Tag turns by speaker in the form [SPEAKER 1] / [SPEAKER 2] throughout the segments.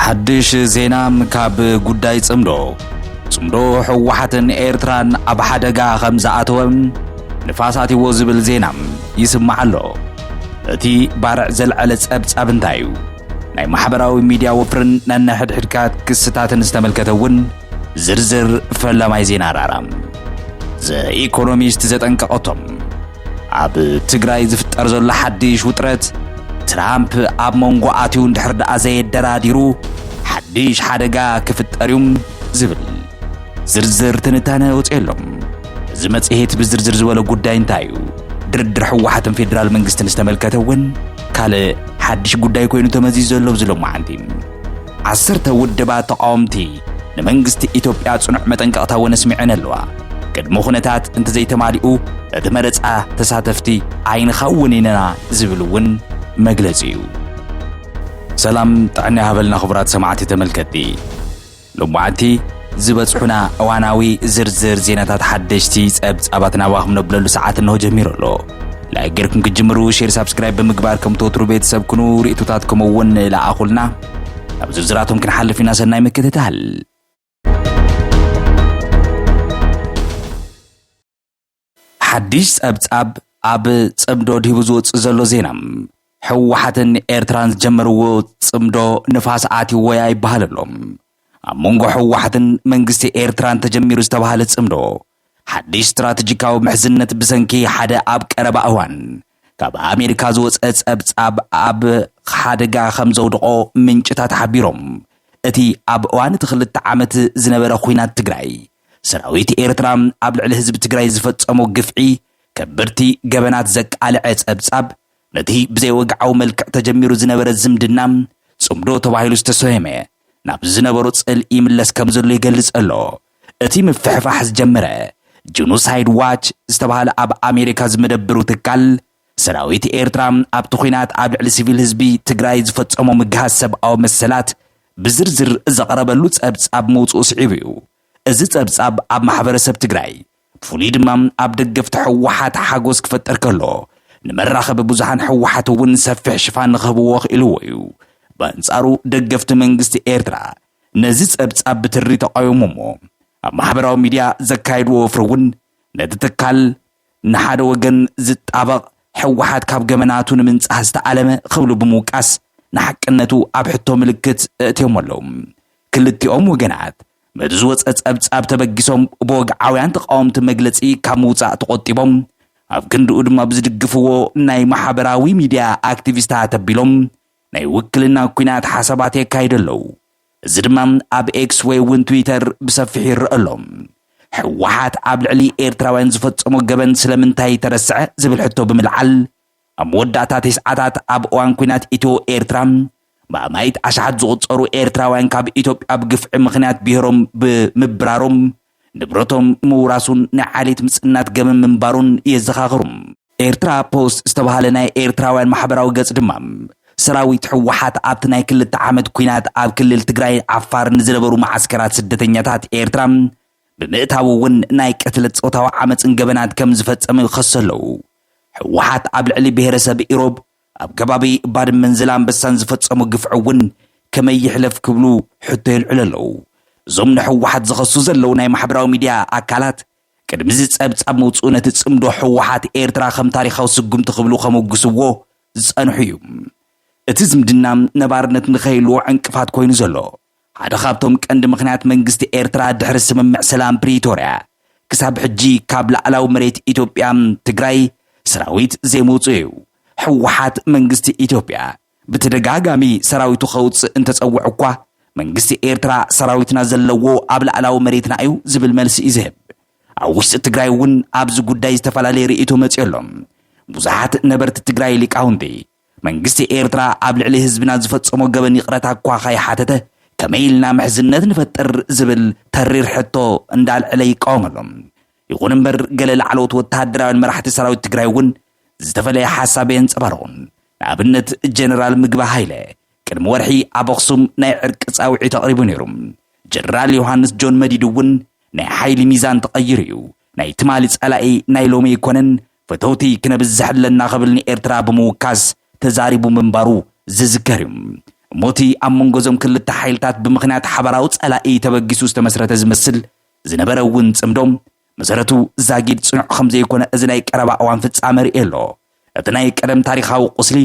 [SPEAKER 1] ሓድሽ ዜና ካብ ጉዳይ ጽምዶ ጽምዶ ህወሓትን ኤርትራን ኣብ ሓደጋ ከም ዝኣተወም ንፋስ ኣትዎ ዝብል ዜና ይስማዕ ኣሎ። እቲ ባርዕ ዘልዐለ ጸብጻብ እንታይ እዩ? ናይ ማሕበራዊ ሚድያ ወፍርን ነንሕድሕድካ ክስታትን ዝተመልከተ እውን ዝርዝር ፈላማይ ዜና ራራ ዘኢኮኖሚስት ዘጠንቀቐቶም ኣብ ትግራይ ዝፍጠር ዘሎ ሓድሽ ውጥረት ትራምፕ ኣብ መንጎ ኣትዩ እንድሕር ደኣ ዘየደራዲሩ ሓድሽ ሓደጋ ክፍጠር እዩ ዝብል ዝርዝር ትንታነ ወፅየሎም እዚ መፅሄት ብዝርዝር ዝበለ ጉዳይ እንታይ እዩ ድርድር ሕወሓትን ፌዴራል መንግስትን ዝተመልከተ እውን ካልእ ሓድሽ ጉዳይ ኮይኑ ተመዚዙ ዘሎ ብዝሎ መዓንቲ ዓሰርተ ውድባት ተቓወምቲ ንመንግስቲ ኢትዮጵያ ጽኑዕ መጠንቀቕታ እውን ኣስሚዐን ኣለዋ። ቅድሚ ኩነታት እንተዘይተማሊኡ እቲ መረጻ ተሳተፍቲ ኣይንኸውንን ኢና ዝብል እውን መግለጺ እዩ። ሰላም ጥዕና ይሃበልና ክቡራት ሰማዕቲ ተመልከቲ ሎማዓንቲ ዝበጽሑና እዋናዊ ዝርዝር ዜናታት ሓደሽቲ ጸብጻባት ናባኹም ነብለሉ ሰዓት እንሆ ጀሚሩ ኣሎ። ላይክ ጌርኩም ክትጅምሩ ሼር ሳብስክራይብ ብምግባር ከም ተወትሩ ቤተሰብ ኩኑ ርእቶታትኩም እውን ለኣኹልና ናብ ዝርዝራቶም ክንሓልፍ ኢና ሰናይ ምክትታል ሓድሽ ጸብጻብ ኣብ ጽምዶ ድሂቡ ዝወጽእ ዘሎ ዜና ህወሓትን ኤርትራን ዝጀመርዎ ጽምዶ ንፋስ ኣትይዎ እያ ይበሃል ኣሎ። ኣብ መንጎ ህወሓትን መንግስቲ ኤርትራን ተጀሚሩ ዝተባህለ ጽምዶ ሓድሽ ስትራተጂካዊ ምሕዝነት ብሰንኪ ሓደ ኣብ ቀረባ እዋን ካብ ኣሜሪካ ዝወጸ ጸብጻብ ኣብ ሓደጋ ከም ዘውድቖ ምንጭታት ሓቢሮም። እቲ ኣብ እዋን እቲ ክልተ ዓመት ዝነበረ ኲናት ትግራይ ሰራዊት ኤርትራ ኣብ ልዕሊ ህዝቢ ትግራይ ዝፈጸሞ ግፍዒ ከበድቲ ገበናት ዘቃልዐ ጸብጻብ ነቲ ብዘይወግዓዊ መልክዕ ተጀሚሩ ዝነበረ ዝምድና ጽምዶ ተባሂሉ ዝተሰየመ ናብ ዝነበሮ ጽልኢ ይምለስ ከም ዘሎ ይገልጽ ኣሎ። እቲ ምፍሕፋሕ ዝጀመረ ጅኖሳይድ ዋች ዝተባህለ ኣብ ኣሜሪካ ዝመደብሩ ትካል ሰራዊት ኤርትራ ኣብቲ ኲናት ኣብ ልዕሊ ሲቪል ህዝቢ ትግራይ ዝፈጸሞ ምግሃስ ሰብኣዊ መሰላት ብዝርዝር ዘቕረበሉ ጸብጻብ ምውጽኡ ስዒቡ እዩ። እዚ ጸብጻብ ኣብ ማሕበረሰብ ትግራይ ብፍሉይ ድማ ኣብ ደገፍቲ ህወሓት ሓጎስ ክፈጥር ከሎ፣ ንመራኸቢ ብዙሃን ህወሓት እውን ሰፊሕ ሽፋን ንክህብዎ ኣኽኢልዎ እዩ። በንጻሩ ደገፍቲ መንግስቲ ኤርትራ ነዚ ጸብጻብ ብትሪ ተቓዊሞሞ ኣብ ማሕበራዊ ሚድያ ዘካየድዎ ወፍሪ እውን ነቲ ትካል ንሓደ ወገን ዝጣበቕ ህወሓት ካብ ገበናቱ ንምንጻህ ዝተኣለመ ክብሉ ብምውቃስ ንሓቅነቱ ኣብ ሕቶ ምልክት ኣእትዮሞ ኣለዉ። ክልቲኦም ወገናት ነቲ ዝወፀ ፀብፃብ ተበጊሶም ብወግዓውያን ተቓወምቲ መግለፂ ካብ ምውፃእ ተቖጢቦም ኣብ ክንድኡ ድማ ብዝድግፍዎ ናይ ማሕበራዊ ሚድያ ኣክቲቪስታት ኣቢሎም ናይ ውክልና ኩናት ሓሳባት የካይዱ ኣለዉ። እዚ ድማ ኣብ ኤክስ ወይ እውን ትዊተር ብሰፊሑ ይረአ ኣሎ። ሕወሓት ኣብ ልዕሊ ኤርትራውያን ዝፈፀሞ ገበን ስለምንታይ ተረስዐ ዝብል ሕቶ ብምልዓል ኣብ መወዳእታ ተስዓታት ኣብ እዋን ኲናት ኢትዮ ኤርትራ ብኣማኢት ኣሽሓት ዝቑጸሩ ኤርትራውያን ካብ ኢትዮጵያ ብግፍዒ ምኽንያት ብሄሮም ብምብራሮም ንብረቶም ምውራሱን ናይ ዓሌት ምጽናት ገበን ምንባሩን የዘኻኽሩ። ኤርትራ ፖስት ዝተባህለ ናይ ኤርትራውያን ማሕበራዊ ገጽ ድማ ሰራዊት ህወሓት ኣብቲ ናይ ክልተ ዓመት ኲናት ኣብ ክልል ትግራይን ዓፋርን ንዝነበሩ መዓስከራት ስደተኛታት ኤርትራ ብምእታው እውን ናይ ቅትለት ጾታዊ ዓመጽን ገበናት ከም ዝፈጸመ ይኸሱ ኣለዉ። ህወሓት ኣብ ልዕሊ ብሄረሰብ ኢሮብ ኣብ ከባቢ ባድመን ዘላንበሳን ዝፈፀሞ ግፍዒ እውን ከመይ ይሕለፍ ክብሉ ሕቶ የልዕሉ ኣለዉ። እዞም ንህወሓት ዝኸሱ ዘለዉ ናይ ማሕበራዊ ሚድያ ኣካላት ቅድሚ እዚ ፀብፃብ ምውፅኡ ነቲ ፅምዶ ህወሓት ኤርትራ ከም ታሪኻዊ ስጉምቲ ክብሉ ከሞግስዎ ዝፀንሑ እዩ። እቲ ዝምድና ነባርነት ንከይህልዎ ዕንቅፋት ኮይኑ ዘሎ ሓደ ካብቶም ቀንዲ ምኽንያት መንግስቲ ኤርትራ ድሕሪ ስምምዕ ሰላም ፕሪቶርያ ክሳብ ሕጂ ካብ ላዕላዊ መሬት ኢትዮጵያ፣ ትግራይ፣ ሰራዊት ዘይምውጽኡ እዩ። ህወሓት መንግስቲ ኢትዮጵያ ብተደጋጋሚ ሰራዊቱ ከውጽእ እንተጸውዕ እኳ፣ መንግስቲ ኤርትራ ሰራዊትና ዘለዎ ኣብ ላዕላዊ መሬትና እዩ ዝብል መልሲ እዩ ዝህብ። ኣብ ውሽጢ ትግራይ እውን ኣብዚ ጉዳይ ዝተፈላለየ ርእይቶ መጺኡ ኣሎ። ብዙሓት ነበርቲ ትግራይ ሊቃውንቲ መንግስቲ ኤርትራ ኣብ ልዕሊ ህዝብና ዝፈጸሞ ገበን ይቕረታ እኳ ከይሓተተ ከመይ ኢልና ምሕዝነት ንፈጥር ዝብል ተሪር ሕቶ እንዳልዐለ ይቃወም ኣሎ። ይኹን እምበር ገለ ላዕለዎት ወተሃደራውያን መራሕቲ ሰራዊት ትግራይ እውን ዝተፈለየ ሓሳብ የንጸባርቑ። ንኣብነት ጀነራል ምግበ ሃይለ ቅድሚ ወርሒ ኣብ ኣኽሱም ናይ ዕርቂ ጻውዒት ኣቕሪቡ ነይሩ። ጀነራል ዮሃንስ ጆን መዲድ እውን ናይ ሓይሊ ሚዛን ተቐይሩ እዩ፣ ናይ ትማሊ ጸላኢ ናይ ሎሚ ኣይኮነን፣ ፈተውቲ ክነብዝሕ ኣለና ክብል ንኤርትራ ብምውካስ ተዛሪቡ ምንባሩ ዝዝከር እዩ። እሞ እቲ ኣብ መንጎ እዞም ክልተ ሓይልታት ብምኽንያት ሓባራዊ ጸላኢ ተበጊሱ ዝተመስረተ ዝመስል ዝነበረ እውን ጽምዶ፣ መሰረቱ ዛጊድ ጽኑዕ ከም ዘይኮነ እዚ ናይ ቀረባ እዋን ፍጻመ የርእዮ ኣሎ። እቲ ናይ ቀደም ታሪኻዊ ቁስሊ፣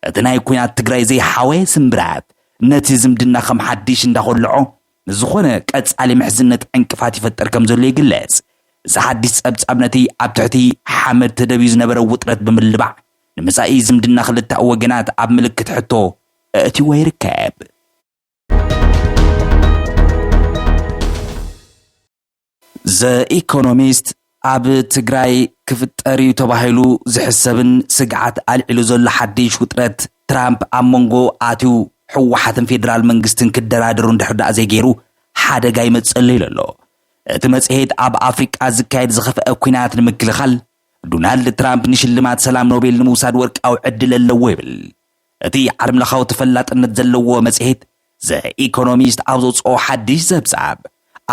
[SPEAKER 1] እቲ ናይ ኲናት ትግራይ ዘይሓወየ ስምብራት ነቲ ዝምድና ከም ሓዲሽ እንዳኾልዖ ንዝኾነ ቀጻሊ ምሕዝነት ዕንቅፋት ይፈጥር ከም ዘሎ ይግለጽ። እዚ ሓድሽ ጸብጻብ ነቲ ኣብ ትሕቲ ሓመድ ተደብዩ ዝነበረ ውጥረት ብምልባዕ ንመጻኢ ዝምድና ክልተኣዊ ወገናት ኣብ ምልክት ሕቶ ኣእትዩዎ ይርከብ። ዘኢኮኖሚስት ኣብ ትግራይ ክፍጠር እዩ ተባሂሉ ዝሕሰብን ስግዓት ኣልዒሉ ዘሎ ሓድሽ ውጥረት ትራምፕ ኣብ መንጎ ኣትዩ ህወሓትን ፌደራል መንግስትን ክደራደሩ እንድሕር ደኣ ዘይገይሩ ሓደጋ ይመፀሉ ኢሉ ኣሎ። እቲ መጽሔት ኣብ ኣፍሪቃ ዝካየድ ዝኸፍአ ኲናት ንምክልኻል ዶናልድ ትራምፕ ንሽልማት ሰላም ኖቤል ንምውሳድ ወርቃዊ ዕድል ኣለዎ ይብል። እቲ ዓለምለኻዊ ተፈላጥነት ዘለዎ መጽሔት ዘ ኢኮኖሚስት ኣብ ዘውጽኦ ሓድሽ ጸብጻብ፣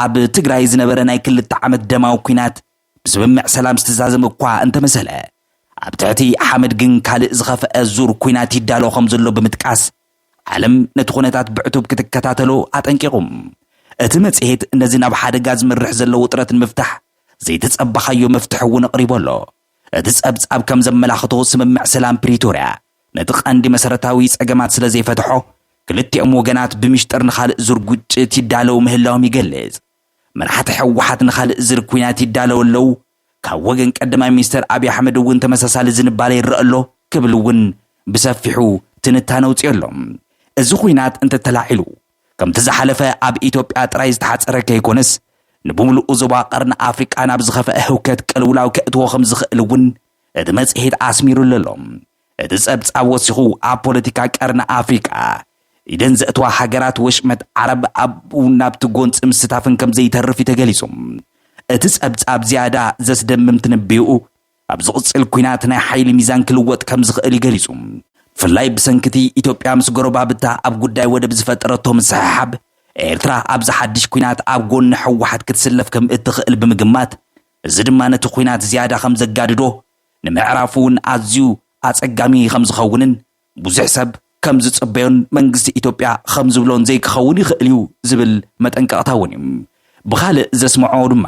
[SPEAKER 1] ኣብ ትግራይ ዝነበረ ናይ ክልተ ዓመት ደማዊ ኲናት ብስምምዕ ሰላም ዝተዛዘመ እኳ እንተመሰለ፣ ኣብ ትሕቲ ሓመድ ግን ካልእ ዝኸፍኣ ዙር ኲናት ይዳሎ ከምዘሎ ብምጥቃስ፣ ዓለም ነቲ ኩነታት ብዕቱብ ክትከታተሎ ኣጠንቂቑ። እቲ መጽሔት ነዚ ናብ ሓደጋ ዝመርሕ ዘሎ ውጥረት ንምፍታሕ ዘይተጸበኻዮ መፍትሒ እውን ኣቕሪቡ ኣሎ። እቲ ጸብጻብ ከም ዘመላኽቶ ስምምዕ ሰላም ፕሪቶርያ ነቲ ቀንዲ መሰረታዊ ጸገማት ስለ ዘይፈትሖ ክልቲኦም ወገናት ብምሽጥር ንኻልእ ዙር ግጭት ይዳለዉ ምህላዎም ይገልጽ። መራሕቲ ሕወሓት ንኻልእ ዝር ኩናት ይዳለዉ ኣለዉ፣ ካብ ወገን ቀዳማይ ሚኒስተር ኣብይ ኣሕመድ እውን ተመሳሳሊ ዝንባለ ይረእ ኣሎ ክብል እውን ብሰፊሑ ትንታነ ኣውጺኦ ኣሎ። እዚ ኩናት እንተተላዒሉ ከምቲ ዝሓለፈ ኣብ ኢትዮጵያ ጥራይ ዝተሓጸረ ከይኮነስ ንብምሉኡ ዞባ ቀርኒ ኣፍሪቃ ናብ ዝኸፈአ ህውከት ቅልውላው ከእትዎ ከም ዝኽእል እውን እቲ መጽሔት ኣስሚሩሉ ኣሎ። እቲ ጸብጻብ ወሲኹ ኣብ ፖለቲካ ቀርኒ ኣፍሪቃ ኢደን ዘእትዋ ሃገራት ወሽመጥ ዓረብ ኣብኡ ናብቲ ጎንጺ ምስታፈን ከም ዘይተርፍ እዩ ተገሊጹ። እቲ ጸብጻብ ዝያዳ ዘስደምም ትንብዮኡ፣ ኣብ ዝቕጽል ኲናት ናይ ሓይሊ ሚዛን ክልወጥ ከም ዝኽእል እዩ ገሊጹ። ብፍላይ ብሰንኪ እቲ ኢትዮጵያ ምስ ጎረባብታ ኣብ ጉዳይ ወደብ ዝፈጠረቶ ምስሕሓብ፣ ኤርትራ ኣብዚ ሓድሽ ኲናት ኣብ ጎኒ ህወሓት ክትስለፍ ከም እትኽእል ብምግማት፣ እዚ ድማ ነቲ ኲናት ዝያዳ ከም ዘጋድዶ፣ ንምዕራፉ'ውን ኣዝዩ ኣጸጋሚ ከም ዝኸውንን ብዙሕ ሰብ ከም ዝጽበዮን መንግስቲ ኢትዮጵያ ኸም ዝብሎን ዘይክኸውን ይኽእል እዩ ዝብል መጠንቀቕታ እውን እዩ። ብኻልእ ዘስመዖ ድማ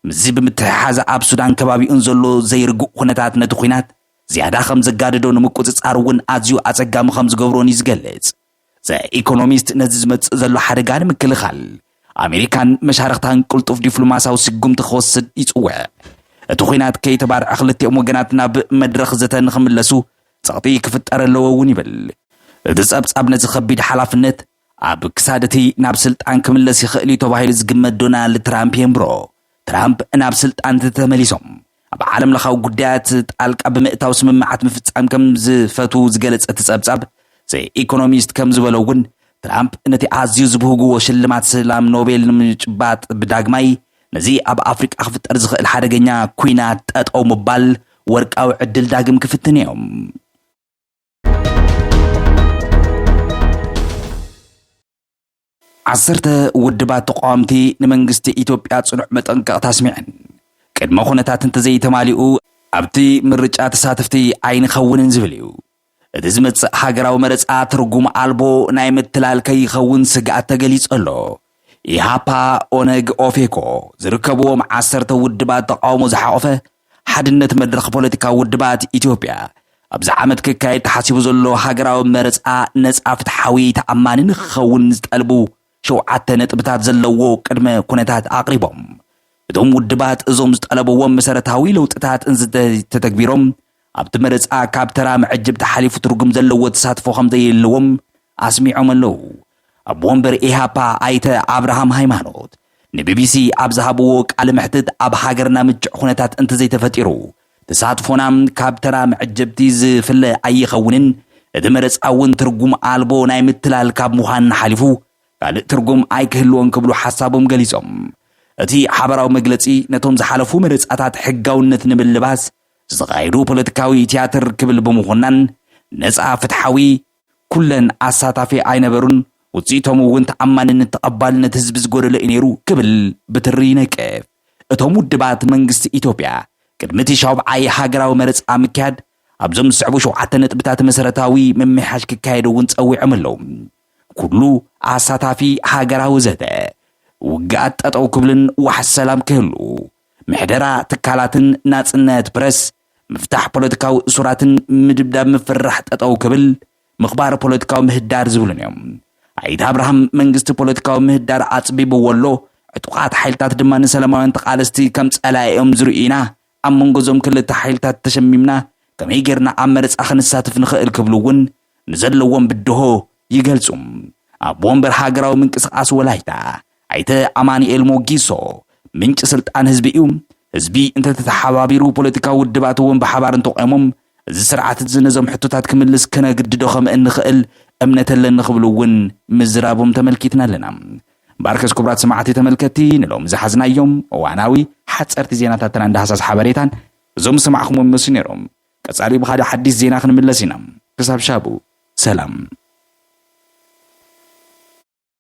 [SPEAKER 1] ምስዚ ብምትሕሓዝ ኣብ ሱዳን ከባቢኡን ዘሎ ዘይርጉእ ኹነታት ነቲ ኹናት ዝያዳ ኸም ዘጋድዶ ንምቁጽጻር እውን ኣዝዩ ኣጸጋሚ ኸም ዝገብሮን እዩ ዝገልጽ። ዘ ኢኮኖሚስት ነዚ ዝመጽእ ዘሎ ሓደጋ ንምክልኻል ኣሜሪካን መሻርኽታን ቅልጡፍ ዲፕሎማስያዊ ስጉምቲ ኽወስድ ይጽውዕ። እቲ ኹናት ከይተባርዐ ኽልቲኦም ወገናት ናብ መድረኽ ዘተ ንኽምለሱ ጸቕጢ ክፍጠር ኣለዎ እውን ይብል። እቲ ጸብጻብ ነዚ ከቢድ ሓላፍነት ኣብ ክሳድ እቲ ናብ ስልጣን ክምለስ ይኽእል እዩ ተባሂሉ ዝግመት ዶናልድ ትራምፕ የንብሮ። ትራምፕ ናብ ስልጣን እንተተመሊሶም ኣብ ዓለምለኻዊ ጉዳያት ጣልቃ ብምእታው ስምምዓት ምፍጻም ከም ዝፈትዉ ዝገለጸ እቲ ጸብጻብ ዘ ኢኮኖሚስት ከም ዝበሎ እውን ትራምፕ ነቲ ኣዝዩ ዝብህጉዎ ሽልማት ሰላም ኖቤል ንምጭባጥ ብዳግማይ ነዚ ኣብ ኣፍሪቃ ክፍጠር ዝኽእል ሓደገኛ ኲናት ጠጠው ምባል ወርቃዊ ዕድል ዳግም ክፍትን እዮም። ዓሰርተ ውድባት ተቃወምቲ ንመንግስቲ ኢትዮጵያ ጽኑዕ መጠንቀቕታ ኣስሚዐን። ቅድመ ኩነታት እንተዘይተማሊኡ ኣብቲ ምርጫ ተሳተፍቲ ኣይንኸውንን ዝብል እዩ። እቲ ዝመጽእ ሃገራዊ መረጻ ትርጉም ኣልቦ ናይ ምትላል ከይኸውን ስግኣት ተገሊጹ ኣሎ። ኢሃፓ፣ ኦነግ፣ ኦፌኮ ዝርከብዎም ዓሰርተ ውድባት ተቓውሞ ዝሓቖፈ ሓድነት መድረኽ ፖለቲካዊ ውድባት ኢትዮጵያ፣ ኣብዚ ዓመት ክካየድ ተሓሲቡ ዘሎ ሃገራዊ መረጻ ነጻ፣ ፍትሓዊ፣ ተኣማኒ ንክኸውን ዝጠልቡ ሸውዓተ ነጥብታት ዘለዎ ቅድመ ኩነታት ኣቕሪቦም። እቶም ውድባት እዞም ዝጠለብዎም መሰረታዊ ለውጥታት እንዝተተግቢሮም ኣብቲ መረፃ ካብ ተራ መዐጀብታ ሓሊፉ ትርጉም ዘለዎ ተሳትፎ ከምዘየለዎም ኣስሚዖም ኣለው። ኣቦ ወንበር ኢህኣፓ ኣይተ ኣብርሃም ሃይማኖት ንቢቢሲ ኣብ ዝሃብዎ ቃለ መሕትት ኣብ ሃገርና ምችዕ ኩነታት እንተዘይተፈጢሩ ተሳትፎና ካብ ተራ መዐጀብቲ ዝፍለ ኣይኸውንን፣ እቲ መረፃ እውን ትርጉም ኣልቦ ናይ ምትላል ካብ ምዃን ሓሊፉ ካልእ ትርጉም ኣይክህልዎን ክብሉ ሓሳቦም ገሊፆም። እቲ ሓበራዊ መግለፂ ነቶም ዝሓለፉ መረፃታት ሕጋውነት ንምልባስ ዝተኻየዱ ፖለቲካዊ ትያትር ክብል ብምኹናን ነፃ፣ ፍትሓዊ፣ ኩለን ኣሳታፊ ኣይነበሩን፣ ውፅኢቶም እውን ተኣማንነት ተቐባልነት ህዝቢ ዝጎደሎ እዩ ነይሩ ክብል ብትሪ ይነቅፍ። እቶም ውድባት መንግስቲ ኢትዮጵያ ቅድሚ እቲ ሻውብዓይ ሃገራዊ መረፃ ምክያድ ኣብዞም ዝስዕቡ ሸውዓተ ነጥብታት መሰረታዊ ምምሕያሽ ክካየድ እውን ፀዊዖም ኣለው። ኩሉ ኣሳታፊ ሃገራዊ ዘተ፣ ውግኣት ጠጠው ክብልን ዋሕስ ሰላም ክህሉ፣ ምሕደራ ትካላትን ናፅነት ፕረስ ምፍታሕ ፖለቲካዊ እሱራትን ምድብዳብ ምፍርራሕ ጠጠው ክብል ምኽባር ፖለቲካዊ ምህዳር ዝብሉን እዮም። ኣይተ ኣብርሃም መንግስቲ ፖለቲካዊ ምህዳር ኣፅቢብዎ ኣሎ፣ ዕጡቓት ሓይልታት ድማ ንሰላማውያን ተቓለስቲ ከም ፀላኢ እዮም ዝርእዩ ኢና፣ ኣብ መንጎ እዞም ክልተ ሓይልታት ተሸሚምና ከመይ ገይርና ኣብ መረፃ ክንሳትፍ ንኽእል ክብሉ እውን ንዘለዎም ብድሆ ይገልፁ። ኣቦ ወንበር ሃገራዊ ምንቅስቓስ ወላይታ ኣይተ ኣማኒኤል ሞጊሶ፣ ምንጪ ስልጣን ህዝቢ እዩ፣ ህዝቢ እንተተተሓባቢሩ ፖለቲካዊ ውድባት እውን ብሓባር እንተቖይሞም እዚ ስርዓት እዚ ነዞም ሕቶታት ክምልስ ክነግድዶ ከምእንኽእል እምነት ኣለኒ ክብሉ እውን ምዝራቦም ተመልኪትና ኣለና። ባርከስ ክቡራት ሰማዕቲ ተመልከቲ ንሎሚ ዝሓዝናዮም እዋናዊ ሓጸርቲ ዜናታትና ዳህሳስ ሓበሬታን እዞም ዝሰማዕኹምዎም ይመስሉ ነይሮም። ቀጻሊ ብኻልእ ሓዲስ ዜና ክንምለስ ኢና። ክሳብ ሻቡ ሰላም።